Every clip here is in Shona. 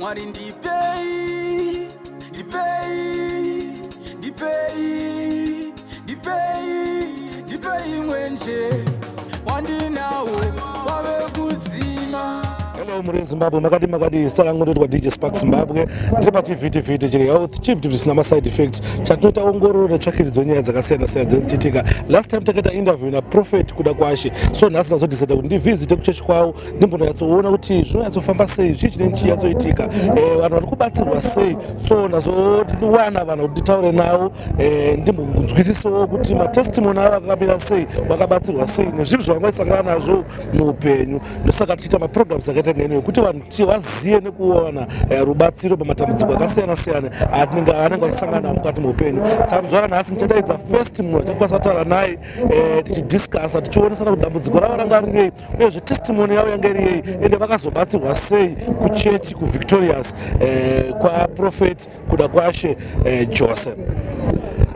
mwari ndipei ndipei ndipei ndipei ndipei mwenje wandinawo wave kudzima Hello muri Zimbabwe makadi makadi sarangu ndotwa DJ Spark Zimbabwe ndiri pachivhiti vhiti chiri health chivhiti zvisina ma side effects chatinoita ongororo netsvakidzo nyaya dzakasiyana siyana dzinochitika last time takaita interview na prophet kuda kwashe so nhasi ndazodecide kuti ndivhizite kuchechi kwavo ndimbonyatsoona kuti zvinonyatsofamba sei zvii chine chiyatsoitika eh, vanhu vari kubatsirwa sei so ndazowana vanhu kuti nditaure navo eh, ndimbonzwisisawo kuti matestimoni avo akamira sei vakabatsirwa sei nezvinhu zvavangaisangana nazvo muupenyu ndosaka tichiita maprograms akaita ngeno yekuti vanhu ti vazive nekuona eh, rubatsiro pamatambudziko akasiyana siyana anenge achisangana mukati meupenyu saka muzuva ranhasi ndichadaidza first munhu achakwanisa kutaura naye eh, tichidiscusa tichionesana kuti dambudziko ravo ranga rirei uyezve testimony yavo yanga iriyei ende vakazobatsirwa sei kuchechi kuvictorious eh, kwaprofet kuda kwashe eh, jose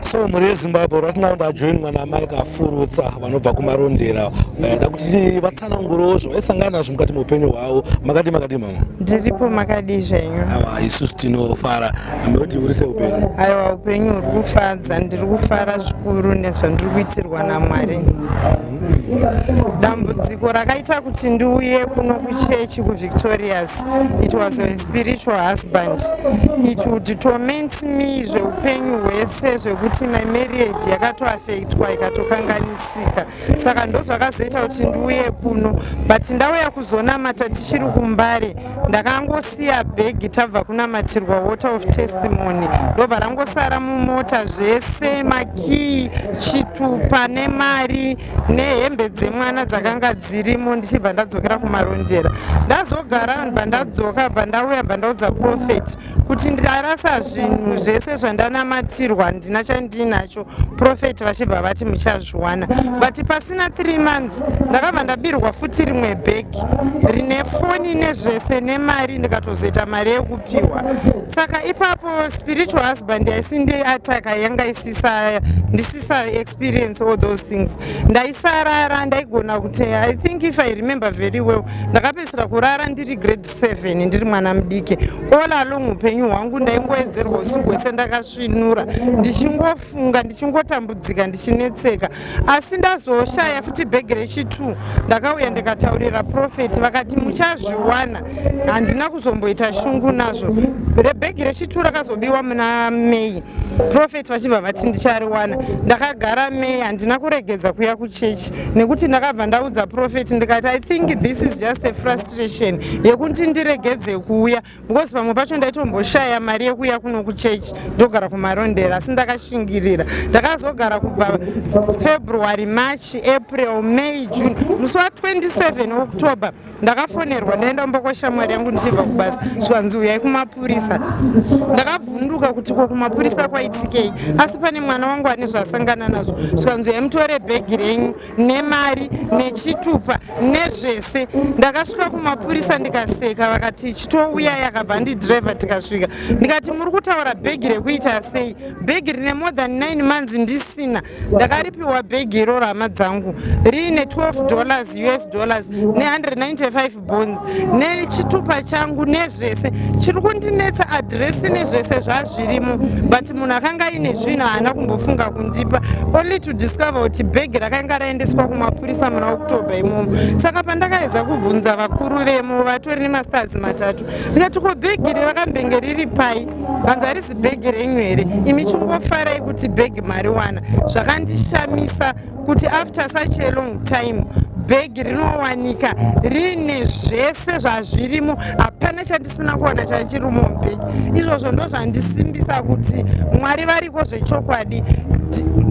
so mhuri yezimbabwe right now ndajoinwa namai kafurutsa vanobva kumarondera eh, da kuti tsanangurowo zvavaisangana nazvo mukati meupenyu hwavo makadii makadii mama ndiripo makadii zvenyu awa isusu tinofara noti uri seupenyu aiwa upenyu huri kufadza ndiri kufara zvikuru nezvandiri kuitirwa namwari dambudziko rakaita kuti ndiuye kuno kuchechi kuvictorious it was a spiritual husband it would torment me zveupenyu hwese zvekuti my marriage yakatoafektwa ikatokanganisika saka ndozvakazoita kuti ndiuye kuno but ndauya kuzonamata tichiri kumbare ndakangosiya bhegi tabva kunamatirwa water of testimony ndobva rangosara mumota zvese makii chitupa nemari nehembe dzemwana dzakanga dzirimo ndichibva ndadzokera kumarondera ndazogara bva ndadzoka bva ndauya bva ndaudza profeti kuti ndarasa zvinhu zvese zvandanamatirwa handina chandinacho profeti vachibva vati muchazviwana but pasina three months ndakabva ndabirwa futi rimwe bhegi rine foni nezvese nemari ndikatozoita mari yekupiwa saka ipapo spiritual husband yaisindi ataka yanga isisa ndisisa experience all those things ndaisarara ndaigona kuti i think if i remember very well ndakapedzisira kurara ndiri grade seven ndiri mwana mudiki all along upenyu hwangu ndaingoedzerwa usiku hwese ndakasvinura ndichingofunga ndichingotambudzika ndichinetseka asi ndazoshaya futi bhegi rechitwo ndakauya ndikataurira profeti vakati muchazviwana handina kuzomboita shungu nazvo rebhegi rechitwo rakazobiwa muna mei profeti vachibva vati ndichariwana ndakagara mei handina kuregedza kuya kuchechi nekuti ndakabva ndaudza profet ndikati i think this is just a frustration yekuti ndiregedze kuuya because pamwe pacho ndaitomboshaya mari yekuuya kuno kuchechi ndogara kumarondera asi ndakashingirira ndakazogara kubva february march april may june musi wa 27 october ndakafonerwa ndaenda kumba kwashamwari yangu ndichibva kubasa zvikanzi uyai kumapurisa ndakabvunduka kuti ko kumapurisa kwaitikei asi pane mwana wangu ane zvaasangana nazvo zvikanzi uyai mutore bhegi renyu nemari nechitupa nezvese ndakasvika kumapurisa ndikaseka vakati chitouya yakabva ndidhiraivha tikasvika ndikati muri kutaura bhegi rekuita sei bhegi rine more than 9 months ndisina ndakaripiwa bhegi iroro hama dzangu riine 12 dollars us dollars ne195 bonds nechitupa changu nezvese chiri kundinetsa adresi nezvese zvazvirimo but munhu akanga aine zvinhu haana kumbofunga kundipa only to discover kuti bhegi rakanga raendeswa kumapurisa muna october imomo saka pandakaedza kubvunza vakuru vemo vatori nemastars matatu ndikati ko bhegi iri rakambenge riri pai hanzi harisi bhegi renyu here imi chingofarai kuti bhegi mariwana zvakandishamisa kuti after such a long time bhegi rinowanika riine zvese zvazvirimo hapana chandisina kuwana chachirimo mubhegi izvozvo ndo zvandisimbisa kuti mwari variko zvechokwadi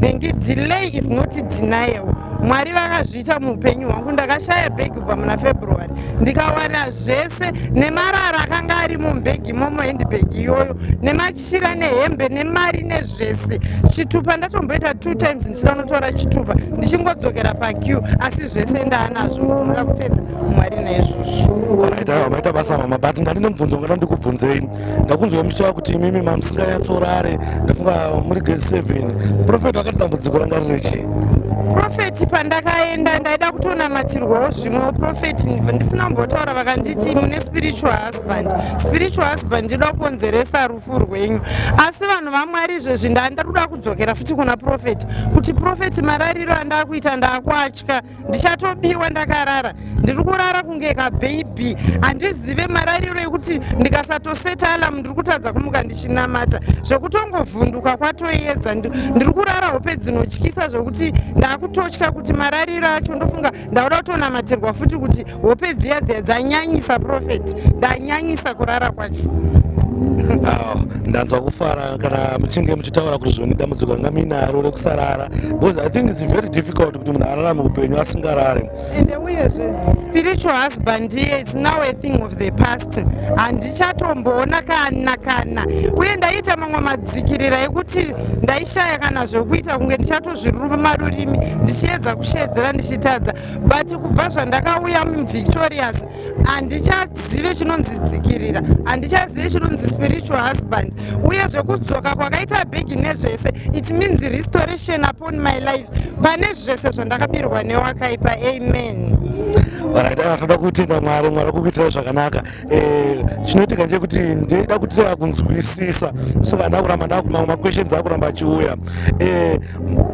nengi delay is not denial mwari vakazvi zvakaita muupenyu hwangu ndakashaya bhegi kubva muna february ndikawana zvese nemarara akanga ari mubhegi imomo handbag iyoyo nemachira nehembe nemari nezvese chitupa ndatomboita two times ndichida unotora chitupa ndichingodzokera pac asi zvese ndaanazvo ndinoda kutenda mwari naizvozvo maita basa mama but ndandine mubvunzo ngada ndikubvunzei ndakunzwa muchitaura kuti imimi mamusinganyatsorare ndafunga muri grade seven profeti vakati dambudziko ranga riri chii profeti pandakaenda ndaida kutonamatirwawo zvimwewo profeti ndisina kumbotaura vakanditi mune spiritual husband spiritual husband ndida kukonzeresa rufu rwenyu asi vanhu vamwari izvezvi ndaa ndatoda kudzokera futi kuna profeti kuti profeti marariro andaakuita ndaakuatya ndichatobiwa ndakarara ndiri kurara kunge kabhebhi handizive marariro ekuti ndikasatoseta alamu ndiri kutadza kumuka ndichinamata zvekutongovhunduka kwatoyedza ndiri kurara hope dzinotyisa zvekuti ndakutotya kuti marariro acho ndofunga ndakuda kutonamatirwa futi kuti hope dziya dziya dzanyanyisa profet ndanyanyisa kurara kwacho awo ndanzwa kufara kana muchinge muchitaura kuti zvoni dambudziko ranga muinaro rekusarara because i think its very difficult kuti munhu ararame upenyu asingarare ende uyezve spiritual husband iye its now a thing of the past handichatomboona kana kana uye ndaiita mamwe madzikirira ekuti ndaishaya kana zvekuita kunge ndichatozviruma rurimi ndichiedza kusheedzera ndichitadza but kubva zvandakauya muvictorious handichazive chinonzi dzikirira handichazive chinonzi spiritual husband uye zvekudzoka kwakaita bhegi nezvese it means restoration upon my life pane zvese zvandakabirwa newakaipa amen varaitaa toda kutenda mwari mwari kukuitira zvakanaka eh, chinoitika ndechekuti ndoda kutira kunzwisisa saka ndakuramba ndakumamwe maquestions akuramba achiuya eh,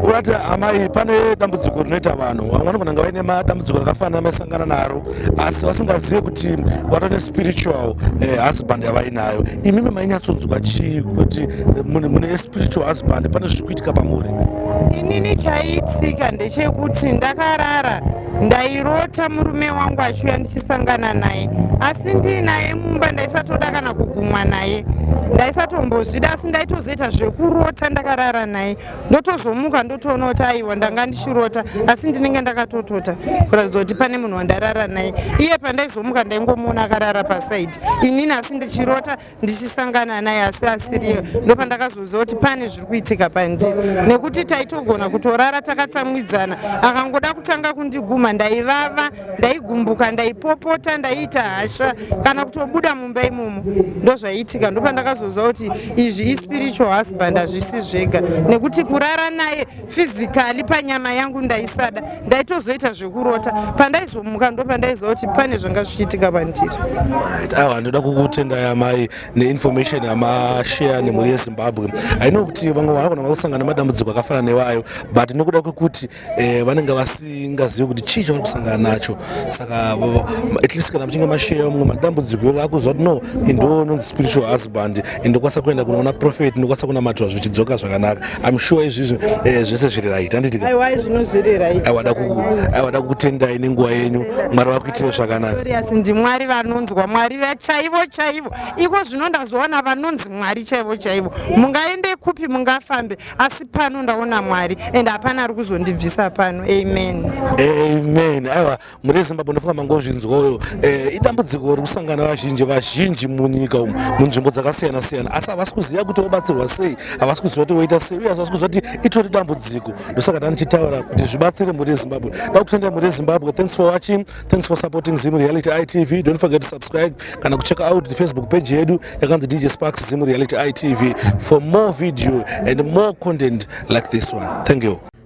urati amai pane dambudziko rinoita vanhu vamwe vanogona nga vaine madambudziko rakafanana maisangana naro asi vasingazive kuti vato nespiritual eh, husband yavainayo imimi mainyatsonzwa chii kuti mune spiritual husband pane zviri kuitika pamuri inini chaiitika ndechekuti ndakarara ndairota murume wangu achiuya ndichisangana naye asi ndiinaye mumba ndaisatoda kana kugumwa naye ndaisatombozvida asi ndaitozoita zvekurota ndakarara naye ndotozomuka ndotoona kuti aiwa ndanga ndichirota asi ndinenge ndakatotota kuratidza kuti pane munhu wandarara naye iye pandaizomuka ndaingomuona akarara pasaidi inini asi ndichirota ndichisangana naye asi asiriye ndopandakazoziva kuti pane zviri kuitika pandiri nekuti taitogona kutorara takatsamwidzana akangoda kutanga kundiguma ndaivava ndaigumbuka ndaipopota ndaiita hasha kana kutobuda mumba imomo ndozvaiitika ndopandakazoziva kuti izvi ispiritual husband hazvisi zvega nekuti kurara naye fizikali panyama yangu ndaisada ndaitozoita zvekurota pandaizomuka ndo pandaiziva kuti pane zvanga zvichiitika pandiri awa ndoda kukutendai amai neinformation yamashare nemhuri yezimbabwe aino kuti vamwe vanogona vakusangana nemadambudziko akafana newayo but nokuda kwekuti eh, vanenge vasingazivi kuti chii chavari kusangana nacho saka at least kana muchinge mashare mumwe madambudziko iro akuziva kuti no indoo nonzi spiritual husband ndokwanisa kuenda kunoona prophet ndokwanisa kunamatwa zvichidzoka zvakanaka im sure izvizvi eh, zvese zviri right handiti aiwada kukutendai nenguva yenyu mwari vakuitire zvakanaka ndimwari vanonzwa mwari vachaivo chaivo iko zvino ndazoona vanonzi mwari chaivo chaivo mungaende kupi mungafambe asi pano ndaona mwari and hapana ari kuzondibvisa pano amen amen aiwa mune zimbabwe ndofunga mangozvinzwayo eh, idambudziko uri kusangana vazhinji vazhinji munyika umu munzvimbo dzakasiyana siyana asi havasi kuziva kuti vobatsirwa sei havasi kuziva kuti voita sei uye havasi kuziva kuti itori dambudziko ndosaka ndanichitaura kuti zvibatsire mhuri yezimbabwe da kutendera mhuri yezimbabwe thanks for watching thanks for supporting zim reality itv don't forget to subscribe kana kuchecka out the facebook page yedu yakanzi dj sparks zim reality itv for more video and more content like this one thank you